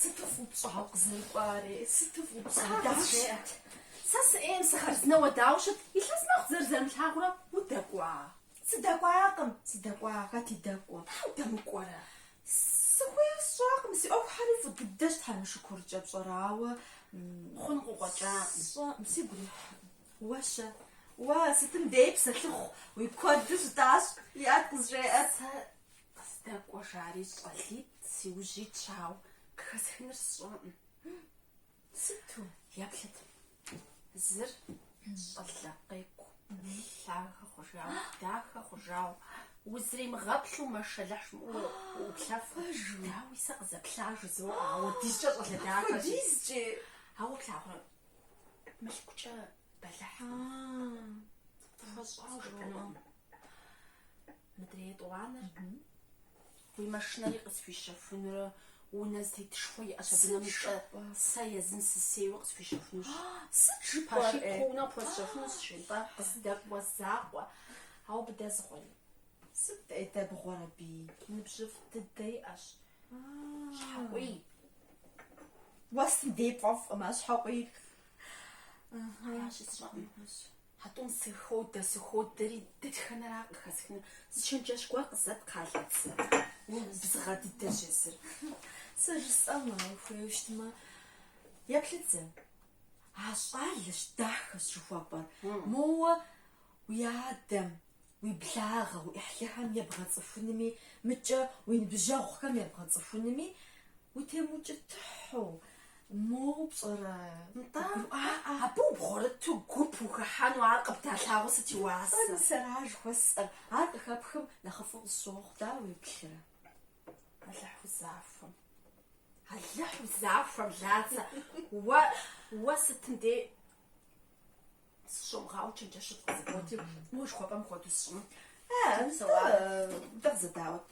Сыту фӏыуэ пщӏа укъызэрыкӏуари, сыту фӏыуэ пщӏа! Дауэ ущыт? Сэ сыӏейм сыхъарзынэ уэ дауэ щыт? Илъэс мэхъу дызэрызэрымылъагъурэ удэкӏуа? Сыдэкӏуакъым, сыдэкӏуа, хэт и дэкӏуэ? Щхьэ удэмыкӏуэрэ? Сыхуейр сщӏакъым, си ӏуэхухьэри фӏы дыдэщ Тхьэм и шыкуркӏэ, пщӏэрэ, ауэ хъун къыкъуэкӏакъым. Сщӏэкъым, сигу ирихь. Уэ-щэ? Уэ сытым дей псэлъыхъу уи куэду щытащ, иӏэт, къызжеӏэ. Сэ Къыздэкӏуэ жари щӏалитӏ си ужь итщ, ауэ къыхэсхынур сщӏэкъым. Сыту? Еплъыт. Зыр щӏалэ къекӏу, лъагэ хъужауэ, дахэ хъужауэ, узримыгъэплъу мэшэлыхь жумыӏэу уоплъэфэ. Дауи сэ къызэплъа жызоӏэ, апхуэдизкӏэ щӏалэ дахэщ. Апхуэдизкӏи? Ауэ, плъагъурэ, мылъкукӏэ бэлыхькъым. Хуэщӏауэ жыпӏэнукъым. Мыдрей етӏуанэр уи машинэри къысхуищэхунурэ унэ зэтетышхуэ иӏэщ абы нэмыщӏэ сэ езым сысейуэ къысхуищэхунущ. Сыт жыпӏэр? Пащтыхь унэ къыпхуэсщэхунущ жи, нтӏэ, къыздэкӏуэ закъуэ. Ауэ абы дэзгъуэри. Сыт дэбгъуэр абы? Ныбжьыфӏ дыдэ иӏэщ. Щхьэкъуий. Уэ сытым дей пфӏэфӏкъым а щхьэкъуийр. Аращи, сщӏэкъым. А тӏум сыходэ, сыходэри, дэтхэнэра къыхэсхынур? Зы чэнджэщ гуэр къызэт кхъыӏэ, Лацэ. Убзыгъэ дыдэщ езыр. Сэ жысӏэмэ, ухуейуэ щытмэ, еплъыт зэ. А щӏалэщ, дахэщ жыхуэпӏэр. Моуэ уи адэм уи благъэ уи ӏыхьлыхэм ебгъэцӏыхунми, мыкӏэ уи ныбжьэгъухэм ебгъэцӏыхунми утемыукӏытыхьу, моуэ пщӏэрэ? Нтӏэ, гуӏаӏэ. Абы убгъурыту гуп ухыхьэну ар къыбдалъагъуу сыт и уасэ? Нтӏэ, мис ара жыхуэсӏэр? Ар къыхэпхым нэхъыфӏу къысщохъу, дауэ уеплърэ? Алыхь узахуэм. Алыхь узахуэм, Лацэ, уэ, уэ сытым дей. Сыщумыгъауэу чэнджэщыфӏ къызыботри, уэ жыхуэпӏэм хуэдэу сщӏыну. Дэгъуэ. Зэ даӏуэт.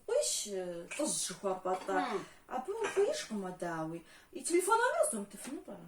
Къуийщ, лӏыжьщ жыхуэпӏэ-тӏэ? Абы ухуеижкъым уэ, дауи. И телефон номерыр къызумытыфыну пӏэрэ?